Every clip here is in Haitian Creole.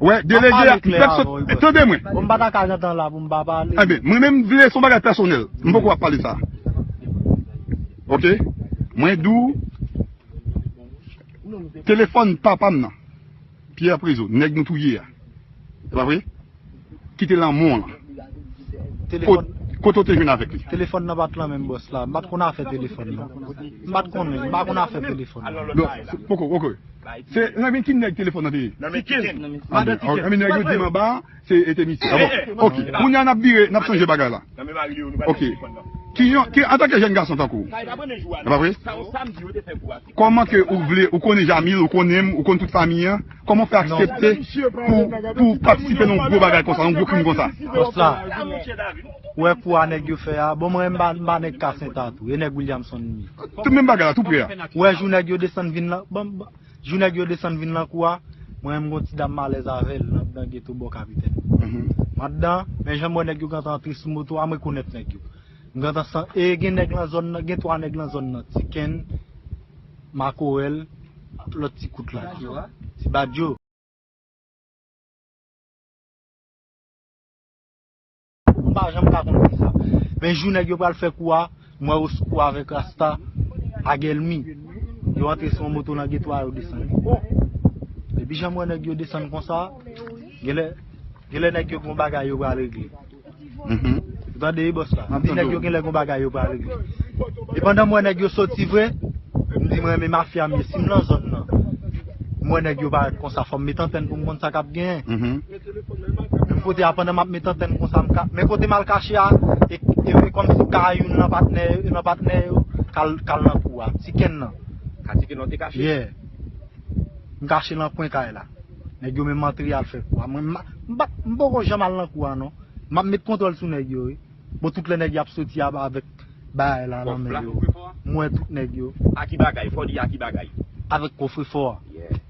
Wè delege a m pèt sot tande mwen. Bon m pa ta ka gen tan la pou m pa pale. Enben mwen menm m vle son bagay pèsonèl m poko ap pale sa ok mwen di w telefòn papa m nan Pierre Prezo nèg nou touye a e pa vre ki te lan mò lan kote w te jwenn avèk li. Telefòn nan pat lan menm bòs la m pat konn afè telefòn non m pat konnen m pa konn afè telefòn. Poko ok. Se nan men ki nèg telefòn nan te ye? Nan men Tiken. Nan men nèg yo di manba a se te misye. Bon ok kounya nap vire nap chanje bagay la. Nan men mari li yo nou pral jwenn telefòn nan. Ok antanke jèn gason tankou w. Sa e pa premye jou a non. E pa vre? Sa yon samdi yo te fè kou a. Kòman ke ou vle ou konnen Jamil ou konnen m ou konn tout fanmi an kòman w fè aksepte pou w patisipe nan yon gwo bagay konsa yon gwo krim konsa? Bòs la ou wè kou a nèg yo fè a bon mwen m pa nèg kasentha tou e nèg Williamson m ye. Ou wè jou nèg yo desann vin lan ban m ban Jou nèg yo desann vin lan kou a Mwen menm gon ti dam m alèz avè l nan dan geto bò kapitèn Anndan men jan m wè nèg yo gentan antre sou moto a m rekonèt nèg yo M gentan san e gen nèg lan zòn nan gen 3 nèg lan zòn nan Ti Kenn Makorèl lòt ti kout la Ti Badjo. Pouki m pa janm ka konn fisa. Men jou nèg yo pral fè kou a, m wè Oscou avèk Rasta pa gen lnmi. Yo antre sou yon moto nan geto a yo desann. Oh! Depi jan m wè nèg yo desann konsa, genlè, genlè nèg yo gen yon bagay yo pral regle. Ou tande wi bòs la? M di nèg yo genlè gen yon bagay yo pral regle. E pandan m wè nèg yo soti vre, m di m renmen mafya m ye. Si m lan zòn nan, m wè nèg yo parèt konsa, fò m met antèn pou m konn sa k ap genyen. Menm kote a pandan map met antèn konsa m ka men kotem al kache a e kòmsi ka youn nan patnè yo nan patnè yo kal nan kou a ti kenn nan a ti kenn nan ou te kache yeah m kache nan kwen kay la nèg yo menm antre yal fè kou a mwen m poko janm al nan kou a non map met kontwòl sou nèg yo wi bon tout lè nèg yo ap soti avèk bagay la nan men yo m wè tout nèg yo a ki bagay fò di a ki bagay avèk kofrefò a yeah.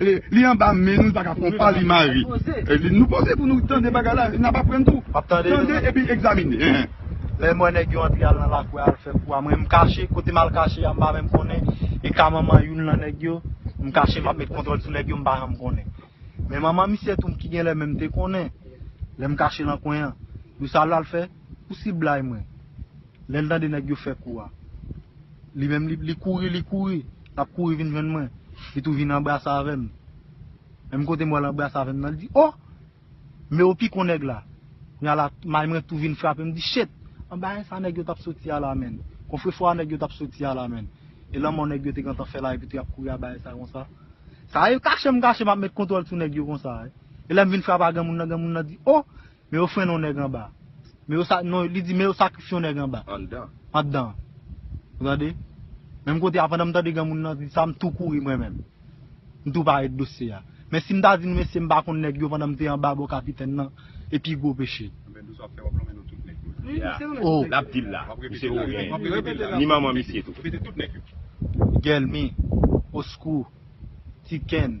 Li anba men nou li paka pran pa li mari nou poze pou nou tande bagay la nap aprann tou tande epi egzamine lèm wè nèg yo antre al nan lakou a al fè kou a mwen m kache kotem al kache a m pa menm konnen e ka manman youn nan nèg yo m kache map met kontwòl sou nèg yo m pa janm konnen men manman misye tou ki genlè menm te konnen lèm kache nan kwen an nou sa lal fè pou siblay mwen Lèl tande nèg yo fè kou a. Li menm li kouri li kouri lap kouri vin jwenn mwen li tou vin anbrase avèm menm kotem wèl anbrase avèm nan li di oh men ou pikon nèg la kounya la may mwen tou vin frapem mdi chet anba ensa nèg yo tap soti a la menn konfrefò a nèg yo tap soti a la menn e lanmò nèg yo te gentan fè la epi tou yap kouri aba ensa konsa sa e kachem kachem ap met kontwòl sou nèg yo konsa e lèm vin frap a granmoun nan granmoun nan di oh Men yo frenn on nèg anba. Men yo sa, non, li di men yo sakrifye on nèg anba. Anndan. Anndan an. Ou tande? Menm kote a, pandan m tande granmoun nan di sa, m tou kouri mwen menm. M tou pare dosye a. Men si m ta di nou mesye m pa konn nèg yo pandan m te anba bò kapitèn nan, e pi gwo peche. Anben dous wap fè wap lonmen non tout nèg yo la. Ya. O! Lap di l la. Misye wou gen. Wap repete l la. Ni manman misye tou. Repete tout nèg yo. Gèlmi. Oskou. Tikenn.